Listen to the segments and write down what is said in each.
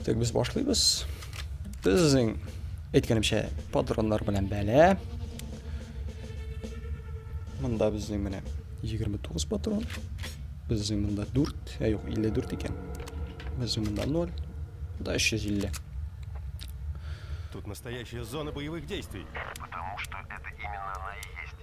Так, без башлыйбыз. Безнең әйткәнемчә патроннар белән бәлә. Монда безнең менә 29 патрон. Безнең монда 4, ә юк 54 икән. Безнең монда 0. Да 350. Тут настоящая зона боевых действий. Потому что это именно она и есть.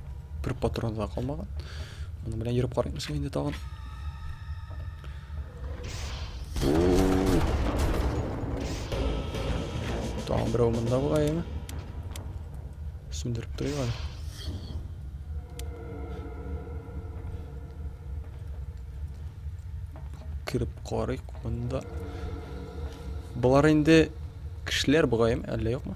Бер патрон да калмаган. Моның белән йөреп карыймсың инде тагын. Тагын берәү монда бугайымы? Сүндереп торыйк әле. Кереп карыйк монда. Болар инде кешеләр бугайым, әллә юкмы?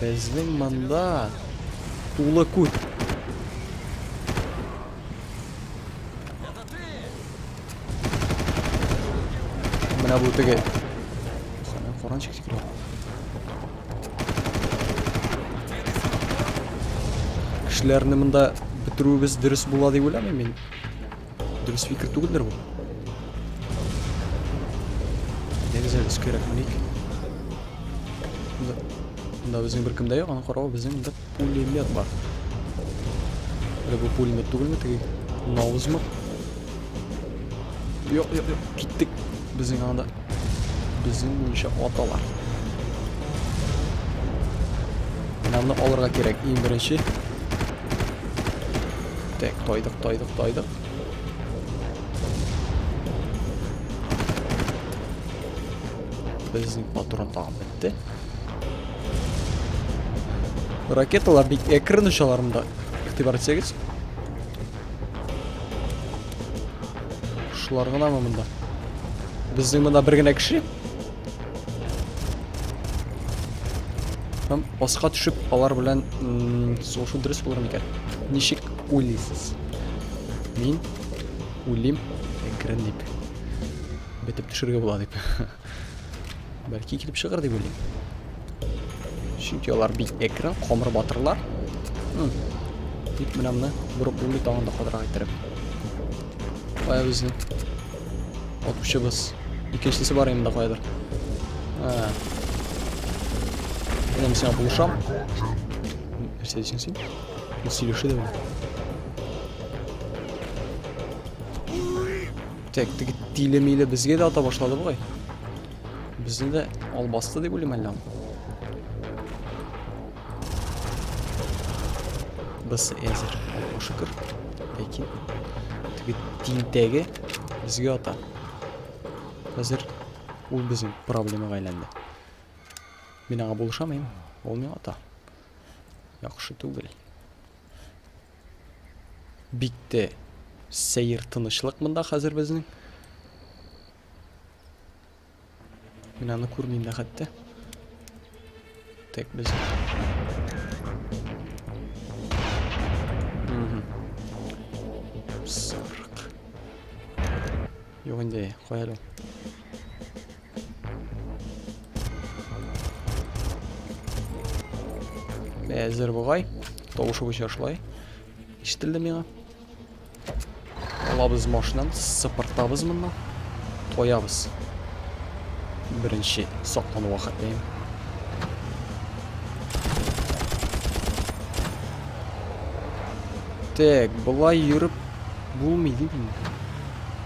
Безнең монда тулы күт. Менә бу теге. Сәлам, форанчик тикрә. Кешеләрне монда бетерүебез дөрес була дип уйламыйм мин. Дөрес фикер түгелдер бу. Дәгез әле өскәрәк меник. Бында безнең бер кемдә юк, аны карау безнең бер пулемет бар. Әле бу пулемет түгелме теге? Наузмы? Юк, юк, юк, киттек. Безнең анда Безнең буенча аталар. Менә алырга кирәк иң беренче. Так, тайдык, тайдык, тайдык. Безнең патрон тагын бетте. Ракеталар бик әкрен очаларында. Игътибар итсәгез. Шулар гына мы монда? Безнең монда бер генә кеше. Һәм аска төшеп алар белән сугышу дөрес булыр микән? Ничек уйлыйсыз? Мин үлим әкрен дип. Бетеп төшергә була дип. Бәлки килеп чыгыр дип уйлыйм. Чөнки алар бик әкрен, камыр батырлар. Тик менә моны борып булмый тагын да кадырак иттереп. Кая безнең атучыбыз? Икенчесе бар инде каядыр. Менә сиңа булышам. Нәрсә дисең син? Сөйлешү дә Так, теге тиле-миле безгә дә ата башлады бугай. Безне дә албасты дип уйлыйм әллә. Без әзер. Шөкер. Ләкин теге тинтәге безгә ата. Хәзер ул безнең проблемага әйләнде. Мин аңа булышамыйм. Ул миңа ата. Яхшы түгел. Бик тә сәер тынычлык монда хәзер безнең. Мин аны күрмим дә хәтта. Так, без... Сарык. Юк инде, куялым. Әзер бугай. Тавышы буенча шулай. Ишетелде миңа. Алабыз машинаны, сыпыртабыз моннан. Тоябыз. Беренче саклану вакытлыйм. Так, болай йөреп булмый дип инде.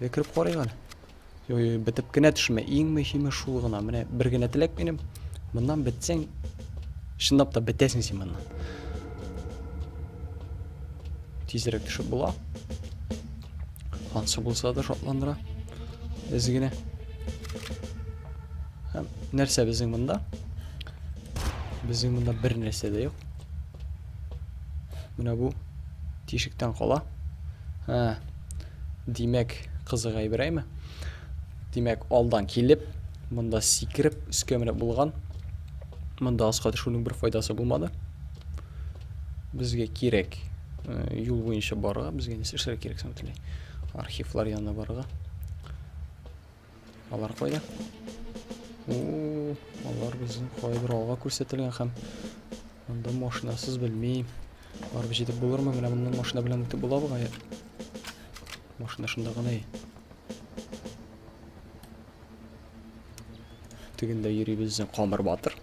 Әле кереп карыйк әле. Йо, йо, бетеп кенә төшмә. Иң мөһиме шул гына. Менә бер генә теләк минем. Моннан бетсәң, чынлап та бетәсең син моннан. Тизрәк төшеп була. Ансы булса да шатландыра. Без генә. Һәм нәрсә безнең монда? Безнең монда бер нәрсә дә юк. Менә бу тишектән кала. Һә. Димәк, кызык әйберәйме? Димәк, алдан килеп, монда сикереп, өскә менеп булган. Монда аска төшүнең бер файдасы булмады. Безгә кирәк э, юл буенча барырга, безгә нәрсә эшләргә кирәк соң бөтенләй? Архивлар янына барырга. Алар кайда? О, алар безнең кайбер алга күрсәтелгән һәм анда машинасыз белмим. Барып җитеп булырмы? Менә моннан машина белән үтеп була бугай. Машина шунда гына. Тегендә йөри безнең Камыр Батыр.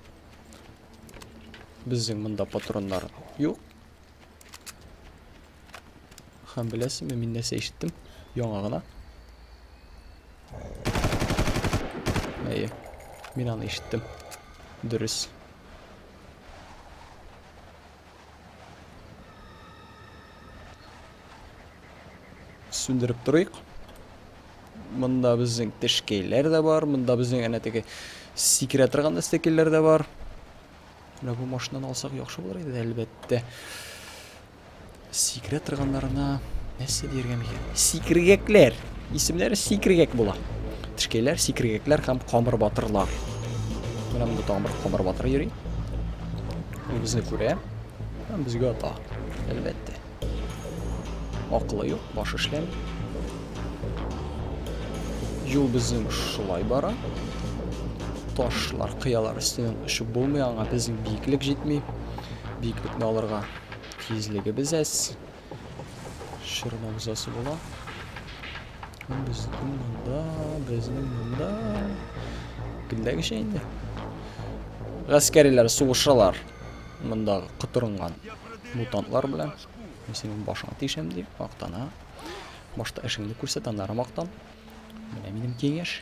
Безнең монда патроннар юк. Һәм беләсезме, мин нәрсә ишеттем? Яңа гына. Әйе, мин аны ишеттем. Дөрес. Сүндереп торыйк. Монда безнең тешкәйләр дә бар, монда безнең әнә теге сикерә торган әстәкәйләр дә бар. Менә бу машинаны алсак яхшы булыр иде, әлбәттә. Сикерә торганнарына нәрсә диергә микән? Сикергәкләр. Исемнәре сикергәк була. Тешкәйләр, сикергәкләр һәм камыр батырлар. Менә монда тагын бер камыр батыр йөри. Ул безне күрә һәм безгә ата. Әлбәттә. Акылы юк, баш эшләми. Юл безнең шулай бара. Ташлар, кыялар өстеннән очып булмый, аңа безнең биеклек җитми. Биеклекне алырга Тизлегебез әз. Шырмабыз асы була. Безнең монда, безнең монда. Көндәгечә инде. Гаскәриләр сугышалар. Монда котырынган мутантлар белән. Мин синең башыңа тишәм дип мактана. Башта эшеңне күрсәт, аннары мактан. Менә минем киңәш.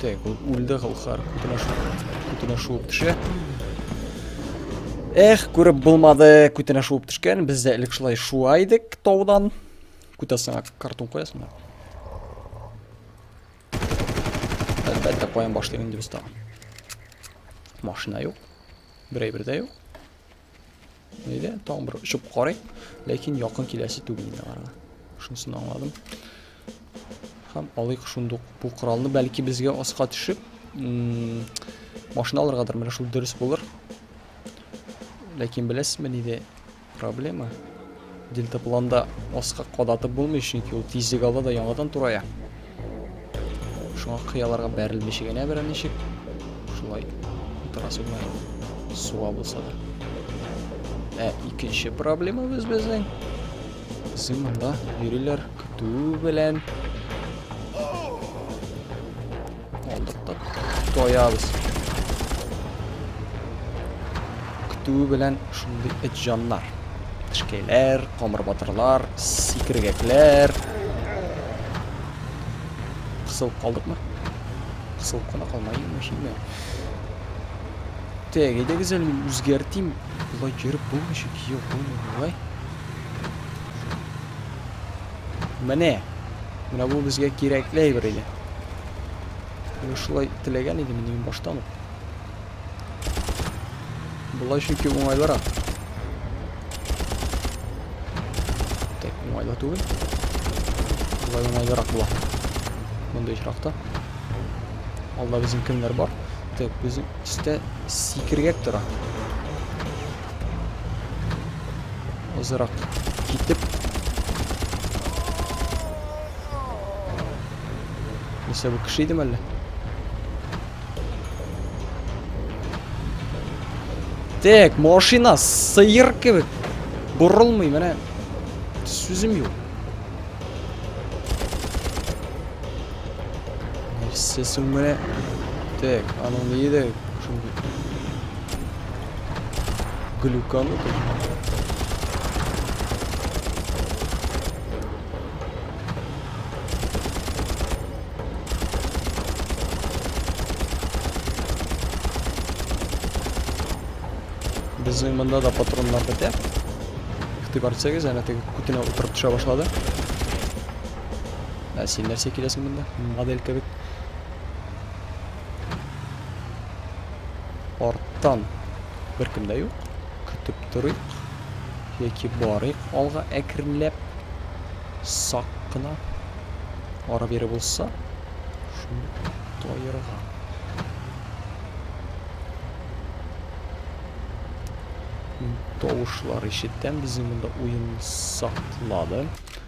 Так, ул үлде Галхар. Көтенә шуып, көтенә шуып төшә. Эх, күреп булмады, көтенә шуып төшкән. Без дә элек шулай шуа идек таудан. Көтәсеңә картон куясың да. Әлбәттә, куям башлыйм инде без тагын. Машина юк. Берәй бердә юк. Нидә? Тагын бер очып карыйк, ләкин якын киләсе түгел инде аларга. Шунысын аңладым. Һәм алыйк шундук бу коралны, бәлки безгә аска төшеп, машина алыргадыр, менә шул дөрес булыр. Ләкин беләсезме нидә проблема? Дельтапланда аска кадатып булмый, чөнки ул тизлек ала да яңадан турая. Шуңа кыяларга бәрелмичә генә берничек шулай торасы була. Суа булса да. Ә икенче проблемабыз безнең Син монда йөриләр көтү белән. Алдык та тоябыз. Көтү белән шундый эт җаннар. Тышкәйләр, камыр батырлар, сикергәкләр. Кысылып калдыкмы? Кысылып кала калмайым шимме? Так, әйдәгез әле мин үзгәртим. Болай йөреп булмый шик, юк, булмый болай. Менә. Менә бу безгә кирәкле әйбер иде. Мин шулай теләгән идем инде баштан ук. Болай чөнки уңайлырак. Так, уңайлы түгел. Болай уңайлырак була. Мондый очракта. Алда безнең кемнәр бар? Так, безнең истә сикергәк тора. Азрак китеп. Нәрсә бу кеше идеме әллә? Так, машина сыйыр кебек борылмый, менә сүзем юк. Нәрсә соң менә? Так, аның ну, ни иде? Шундый. Глюкану. Безнең монда да патроннар бетә. Игътибар итсәгез, әнә теге күтенә утырып төшә башлады. Ә син нәрсә киләсең монда? Модель кебек. Арттан беркем дә юк. Көтеп торыйк яки барыйк алга әкренләп, сак кына. Ара-бире булса, шуны таерга. тавышлар ишеттем. Безнең монда уен саклады.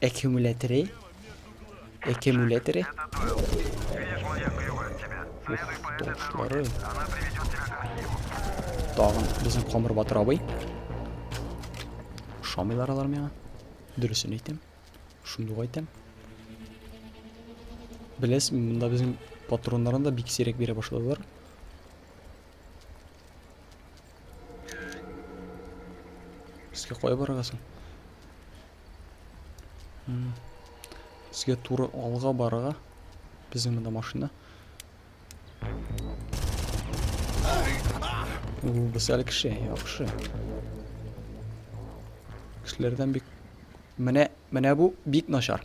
Экюмуляторы? Экюмуляторы? Уфточлары. Тагын безнең Камыр Батыр абый. Шамилар алар миңа. Дөресен әйтәм. Шундук әйтәм. Беләсең, монда безнең патроннарын да бик сирәк бирә башладылар. Безгә кая барырга соң? Безгә туры алга барырга. Безнең монда машина. Ул без әле кеше, яхшы. Кешеләрдән бик менә менә бу бик начар.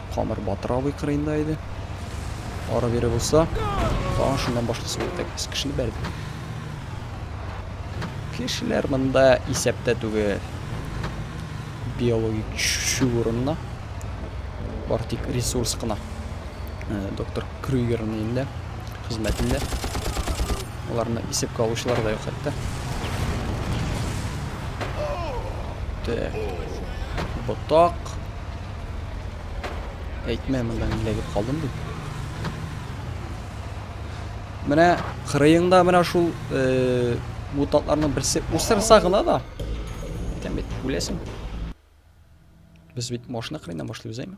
Камыр Батыр абый кырыенда иде. Ары бире булса, тагын шуннан башлысы булып та килсен. Кешене бәрде. Кешеләр монда исәптә түгел. Биологик чүп урынына. Бар тик ресурс кына. Э, доктор Крюгерның инде хезмәтендә. Аларны исәпкә алучылар да юк хәтта. Так. Ботак. Әйтмә, монда мин эләгеп калдым дип. Менә кырыеңда менә шул э, мутатларның берсе усырса гына да. Әйтәм бит, үләсең. Без бит машина кырыеннан башлыйбыз, әйме?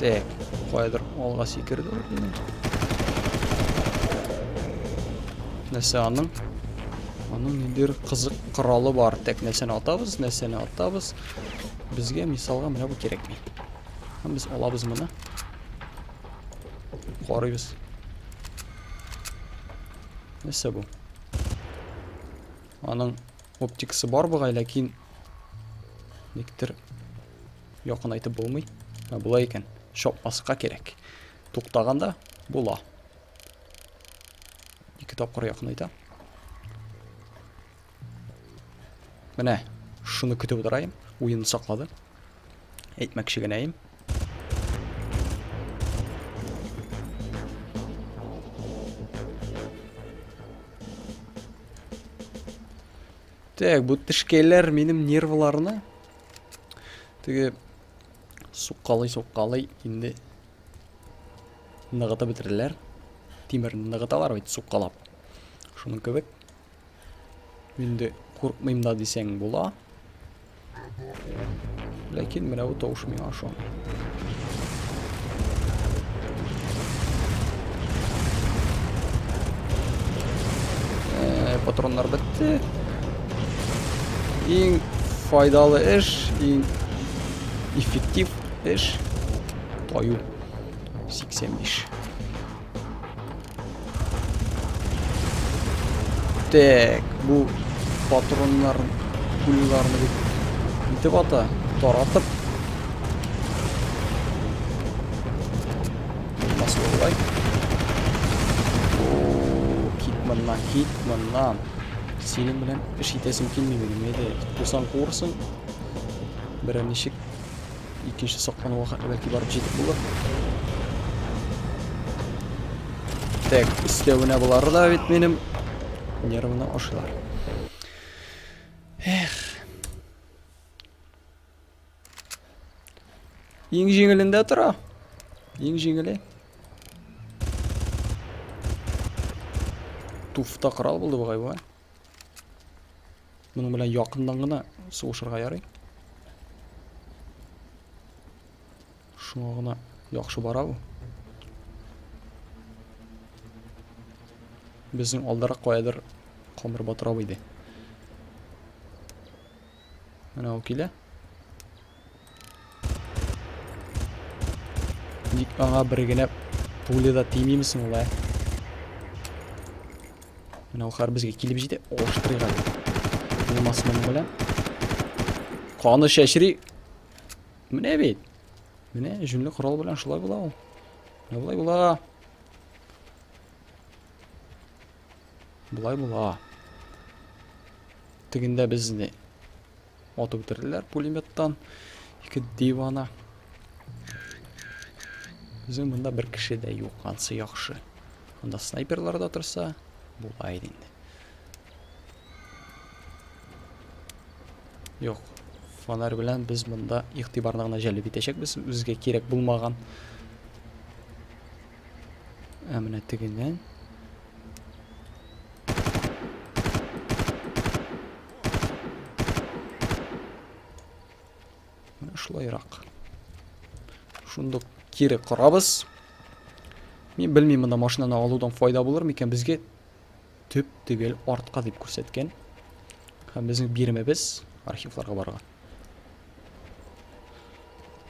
Так, кайдыр алга сикерде ул минем. Нәрсә аның? Аның ниндер кызык коралы бар. Так, нәрсәне атабыз, нәрсәне атабыз. Безгә мисалга менә бу кирәкми. Һәм без алабыз моны. Карыйбыз. Нәрсә бу? Аның Оптиксы бар бугай, ләкин никтер якынайтып булмый. Ә була икән, чапмаска кирәк. Туктаганда була. Ике тапкыр якынайта. Менә шуны көтеп утырайым. Уен саклады. Әйтмәкче генәем. Так, бу тешкәйләр минем нервларны теге суккалый суккалый инде ныгытып бетерделәр. Тимерне ныгыталар бит суккалап. Шуның кебек. Инде куркмыйм да дисәң була. Ләкин менә бу тавыш миңа ошамый. Э, патроннар бетте. Иң файдалы эш, иң эффектив эш таю 85. Так, бу патроннар пуляларны бит итеп ата, таратып. Басылай. О, кит моннан, кит моннан. Синең белән эш итәсем килми минем, әйдә, курсан курсын. Берәр ничек Икенче соклануга хәтле бәлки барып җитеп булыр. Так, өстәвенә болары да бит минем нервны ашыйлар. Эх. Иң җиңелендә тора. Иң җиңеле. Туфта корал булды бугай бу. Моның белән якыннан гына сугышырга ярый. Шуңа гына яхшы бара бу. Безнең алдарак каядыр камыр батырап иде. Менә ул килә. Ник аңа бер генә пуля да тимим соң ул, ә? Менә ул хар безгә килеп җитә. Оштырыйга. Булмас моның белән. Каны чәчри. Менә бит. Менә җүнле корал белән шулай була ул. Менә болай була. Болай була. Тегендә безне атып үтерделәр пулеметтан. Ике дивана. Безнең монда бер кеше дә юк, ансы яхшы. Анда снайперлар да торса, була иде инде. Юк, фонарь белән без монда игътибарны гына җәлеп итәчәкбез, үзгә кирәк булмаган Ә менә тегеннән Шулайрак. Шундук кире корабыз. Мин белмим, монда машинаны алудан файда булыр микән безгә? Төп түгел, артка дип күрсәткән. Һәм безнең биремебез архивларга барган.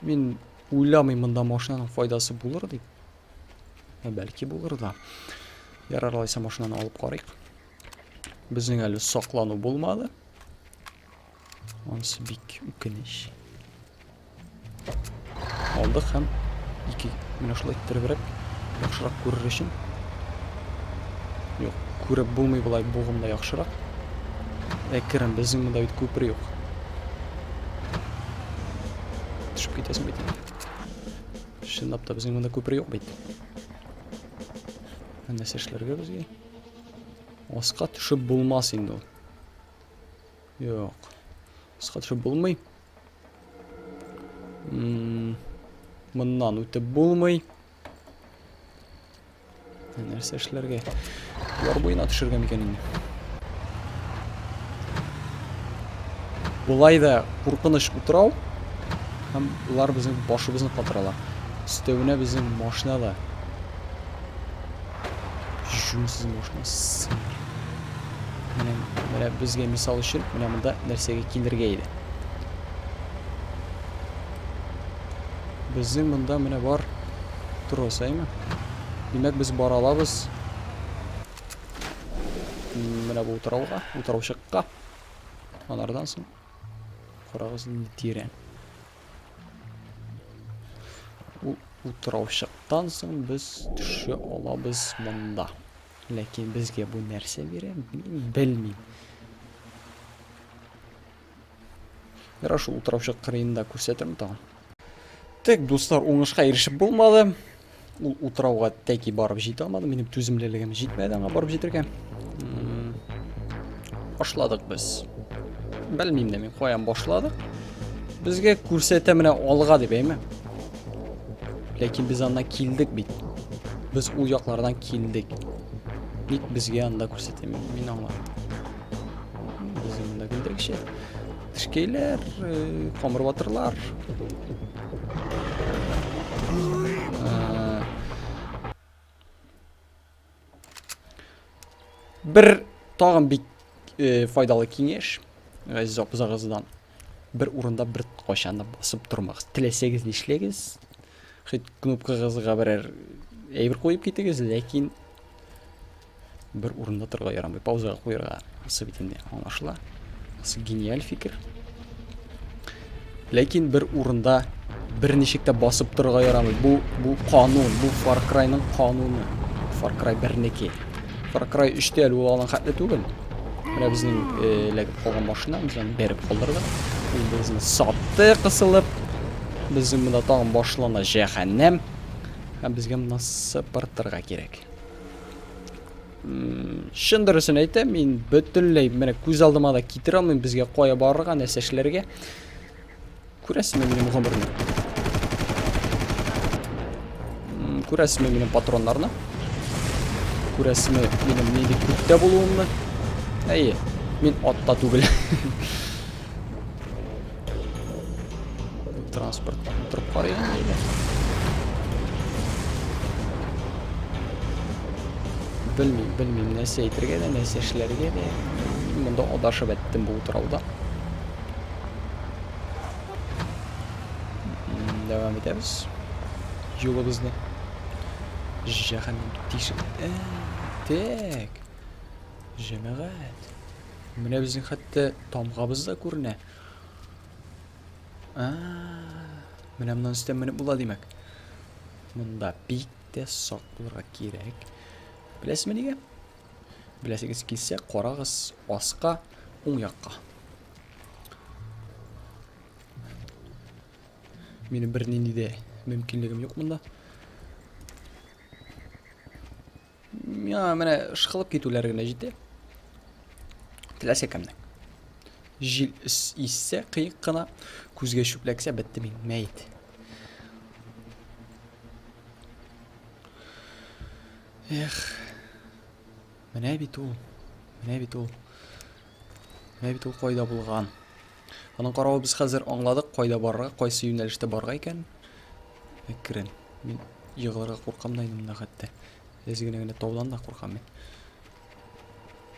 Мин уйламыйм монда машинаның файдасы булыр дип. Ә бәлки булыр да. Ярар алайса машинаны алып карыйк. Безнең әле саклану булмады. Ансы бик үкенеч. Алдык һәм ике менә шулай иттеребрәк яхшырак күрер өчен. Юк, күреп булмый болай бугымда яхшырак. Әкрен безнең монда бит күпер юк. Төшеп китәсең бит. Чынлап та безнең монда күпер юк бит. Нәрсә эшләргә безгә? Аска төшеп булмас инде ул. Юк. Аска төшеп булмый. Моннан үтеп булмый. Нәрсә эшләргә? Яр буена төшергән икән инде. Болай да куркыныч утрау. Һәм улар безнең башыбызны катыралар. Өстәвенә безнең машина да. Җүнсез машина. Менә, менә безгә мисал өчен, менә монда нәрсәгә килергә иде? Безнең монда менә бар трос, әйме? Димәк, без бара алабыз. Менә бу утрауга, утраучыкка. Анардан соң карагыз инде тирә. Бу утраучыктан соң без төшә алабыз монда. Ләкин безгә бу нәрсә бирә, белмим. Ярар, шул утыраучы кырыенда күрсәтермен тагын. Тек, дуслар, уңышка ирешеп булмады. Ул утрауга тәки барып җитә алмады. Минем түземлелегем җитмәде аңа барып җитәргә. Башладык без. Белмим дә мин, каян башладык. Безгә күрсәтә менә алга дип әйме. Ләкин без анда килдек бит. Без ул яклардан килдек. Ник безгә анда күрсәтә? Мин аңладым. Без анда килдек шәт. Тешкәйләр, э, камыр батырлар. Бер тагын бик э, файдалы киңәш. Газиз апызагыздан. Бер урында бер кайчан да басып тормагыз. Теләсәгез нишләгез. Хит кнопкагызга берәр әйбер куеп китегез, ләкин бер урында торга ярамый. Паузага куярга. Асы бит инде аңлашыла. Асы гениаль фикер. Ләкин бер урында берничек тә басып торырга ярамый. Бу, бу канун, бу Far Cry-ның кануны. Far Cry 1-неке. Far Cry 3-тә әле ул алган хәтле түгел. Менә безнең э, эләгеп калган машина, без аны бәреп калдырдык. Ул безне сатты кысылып. Безнең монда тагын башлана җәһәннәм. Һәм безгә моннан сыпыртырга кирәк. Чын дөресен әйтәм, мин бөтенләй менә күз алдыма да китерә алмыйм безгә кая барырга, нәрсә эшләргә. Күрәсезме минем гомерне? Күрәсезме минем патроннарны? Күрәсезме минем нинди күптә булуымны? Әйе, мин атта түгел. Транспорт торып карыйк инде әйдә. Белмим, белмим, нәрсә әйтергә дә, нәрсә эшләргә дә. Монда адашып әттем бу утрауда. Дәвам итәбез. Юлыбызны. Җәһәннәм тишек. Э, тек. Җәмәгать. Менә безнең хәтта тамгабыз да күренә. А, менә моннан өстә менеп була димәк. Монда бик тә сак булырга кирәк. Беләсезме нигә? Беләсегез килсә, карагыз аска, уң якка. Минем бер нинди дә мөмкинлегем юк монда. Миңа менә ышкылып китүләр генә җитә. Теләсә кемнең. Җил иссә кыек кына, күзгә чүпләксә бетте мин, мәйт. Эх. Менә бит ул. Менә бит ул. Менә бит ул кайда булган. Аның каравы без хәзер аңладык, кайда барырга, кайсы юнәлештә барырга икән. Әкрен. Мин егылырга куркам да инде монда хәтта. Әз генә генә таудан да куркам мин.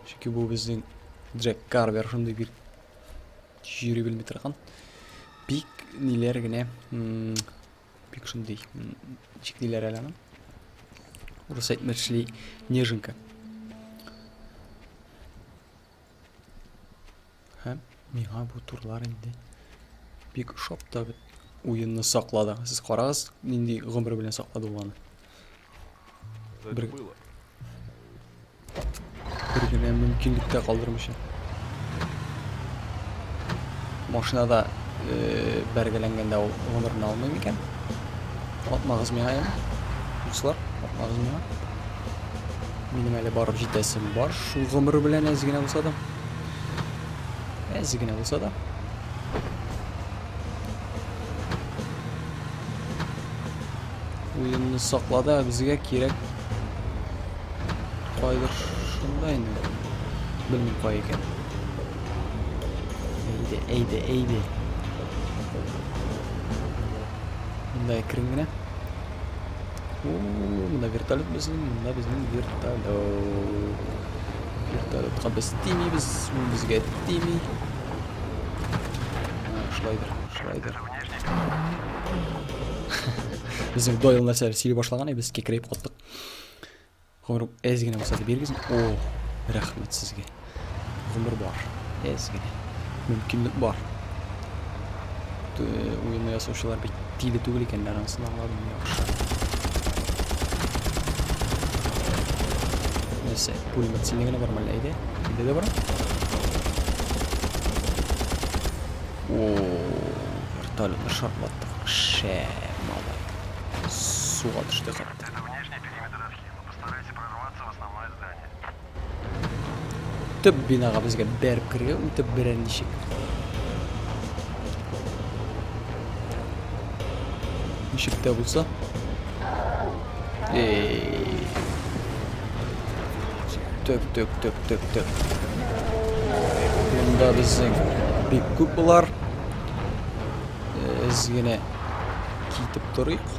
Чөнки бу безнең Джек Карвер шундый бик йөри белми торган. Бик ниләр генә бик шундый ничек диләр әле аны? Урыс әйтмешли неженка. Һәм миңа бу турлар инде бик ошап та бит. Уенны саклады. Сез карагыз, нинди гомер белән саклады ул аны. Бер... Бер генә мөмкинлек тә калдырмыйча. Машинада э, бәргәләнгәндә ул гомерен алмый микән? Атмагыз миңа, яме. Дуслар, атмагыз миңа. Минем әле барып җитәсем бар. Шул гомер белән әз генә булса да. Әз генә булса да. Уенны саклады, ә безгә кирәк. Кайдыр шунда инде. Белмим кай икән. Әйде, әйде, әйде. Монда әкрен генә. Мына вертолет безнең, мына безнең вертолет. Вертолетка без тимибез, ул безгә тими. Шулайдыр, шулайдыр. Безнең Дойл нәрсә сөйли башлаган, без кекрәйп каттык. Гомер әз генә булса да бирегез. О, рәхмәт сезгә. Гомер бар. Әз генә. Мөмкинлек бар. Уенны ясаучылар бит тиле түгел икәннәр, анысын аңладым яхшы. Нәрсә, пулемет синең генә бармы әллә әйдә? Әйдә дә бар. О, вертолетны шартлаттык. Шә, малай. Суга төште хәтта. Төп бинага безгә бәреп керергә үтеп берәр ничек. Ничек тә булса. Эй. Төк, төк, төк, төк, төк. Монда безнең бик күп булар. Без генә китеп торыйк.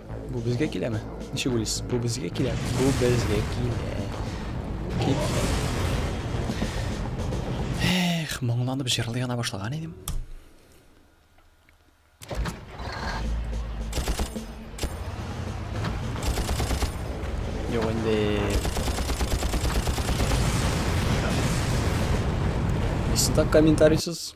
Бу безгә киләме? Ничек уйлыйсыз? Бу безгә килә? Бу безгә килә. Эх, моңланып җырлый гына башлаган идем. Юк инде. Исында комментарийсыз.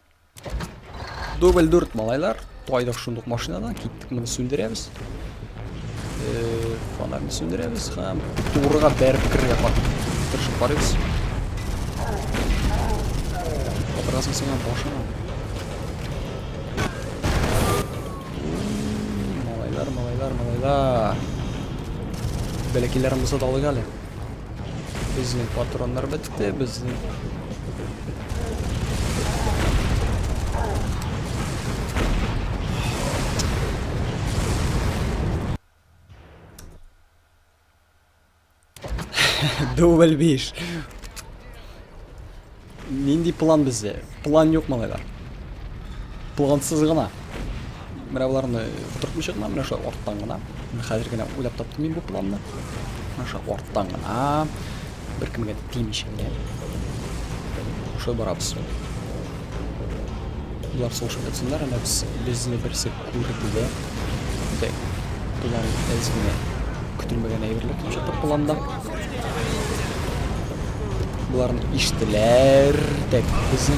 Дубль дүрт, малайлар. Тайдык шундук машинадан. Киттек, моны сүндерәбез. Э, фонарны сүндерәбез һәм турыга бәреп керергә тырышып карыйбыз. Атырасың сиңа башыңа. Малайлар, малайлар, малайлар. Бәләкиләрен булса да алыйк әле. Безнең патроннар бетте, безнең... Дубль биш. Нинди план бездә? План юк, малайлар. Плансыз гына. Менә боларны утыртмыйча гына, менә шулай арттан гына. Хәзер генә уйлап таптым мин бу планны. Менә шулай арттан гына. Беркемгә тимичә генә. Шулай барабыз. Болар сулышып ятсыннар, әнә без безне берсе Күреп белә. Дә. План әз генә. Көтелмәгән әйберләр килеп чыкты планда. Боларны иштеләр. Тәк безне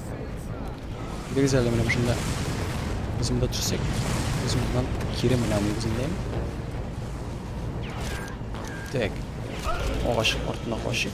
Дигез әле менә шунда. Без монда төшсәк, без моннан кире менә нигезендәме? Так. Агач артына качып.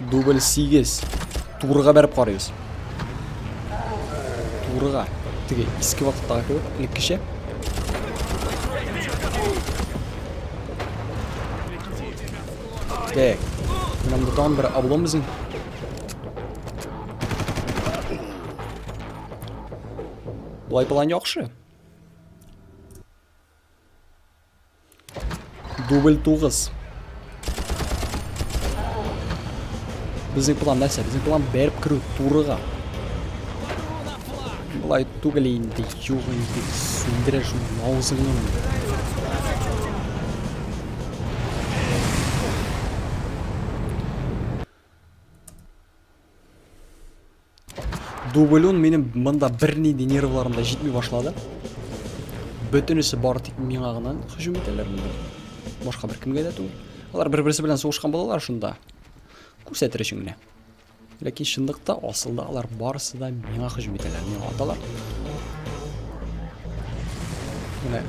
Дубль 8. Турыга бәреп карыйбыз. Турыга. Теге иске вакыттагы кебек, элеккечә. Так. Нам да там бер облом безнең. Болай план яхшы. Дубль тугыз. Безнең план нәрсә? Безнең план бәреп керү турыга. Былай түгел инде, юк инде, сүндерә шул наузыңын. Дублон минем монда бернинди нервларым да җитми башлады. Бөтенесе бары тик миңа гына һөҗүм итәләр монда. Башка бер кемгә дә түгел. Алар бер-берсе белән сугышкан булалар шунда. Күрсәтер өчен генә. Ләкин чынлыкта асылда алар барысы да миңа һөҗүм итәләр, миңа аталар. Менә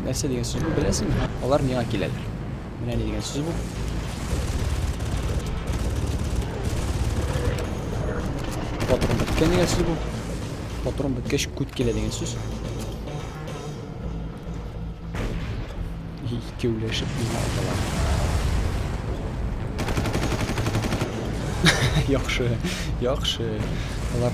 нәрсә дигән сүзне беләсеңме? Алар миңа киләләр. Менә ни дигән сүз бу. Патрон беткән дигән сүз бу. Патрон беткәч күт килә дигән сүз. Икеүләшеп миңа аталар. Яхшы, яхшы. Алар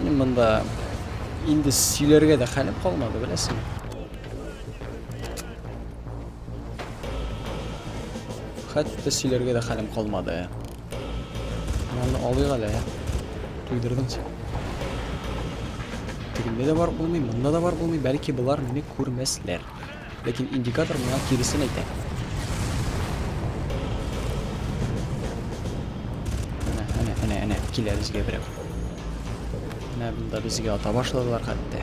Минем монда инде сөйләргә дә хәлем калмады, беләсең. Хәтта сөйләргә дә хәлем калмады. Монда алыйк әле. Туйдырдың син. Тегендә дә бар булмый, монда да бар булмый, бәлки болар мине күрмәсләр. Ләкин индикатор моңа киресен әйтә. Әнә, әнә, әнә, әнә, килә безгә берәү. Әнә бында безгә ата башладылар хәтта.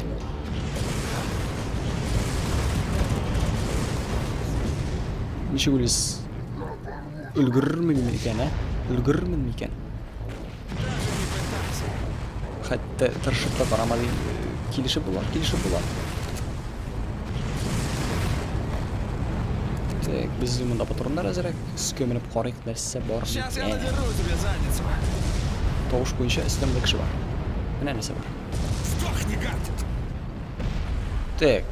Ничек үлес? Өлгерермен микән, ә? Өлгерермен микән? Хәтта тырышып та карамады. Килешеп була, килешеп була. Так, без монда патроннар әзерәк. Өскә менеп карыйк, нәрсә бар микән. Тавыш буенча өстәмдә кеше бар. Менә нәрсә бар. Так,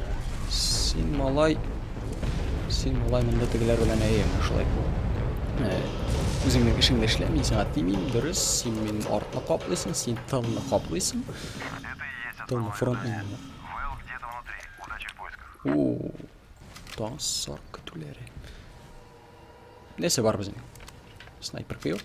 син малай Син алай монда тегеләр белән әйе, шулай. Үзеңнең эшеңне эшлә, мин сиңа тимим, дөрес, син мин артны каплыйсың, син тылны каплыйсың. Тылны фронт менемен. Уу, тан сар көтүләре. Нәрсә бар безнең? Снайпер кыйр.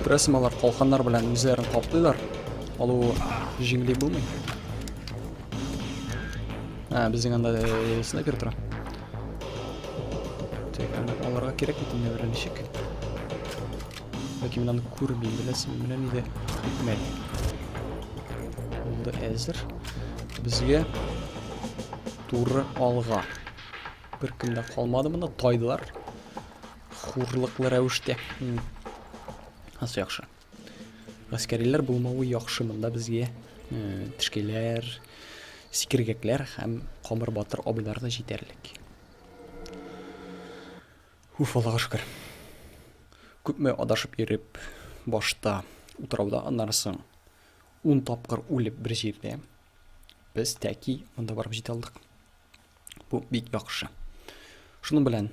Күрәсең, алар калканнар белән үзләрен каплыйлар. Алу җиңли булмый. Ә, безнең анда э, снайпер тора. Тик аларга кирәк бит инде берәр ничек. Ләкин мин аны күрмим, беләсең, менә нидә. Мәл. Булды әзер. Безгә туры алга. Беркем дә калмады монда, тайдылар. Хурлыклы рәвештә. Асы яхшы. Гаскәриләр булмавы яхшы монда безгә. Э, Тешкәләр, сикергәкләр һәм камыр батыр абыйлар да җитәрлек. Уф, Аллага шөкер. Күпме адашып йөреп, башта утрауда аннарсын. Ун тапкыр үлеп бер җирдә. Без тәки монда барып җитә алдык. Бу бик яхшы. Шуның белән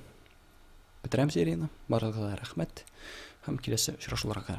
бетерәм серияне. Барыгызга рәхмәт һәм киләсе очрашуларга.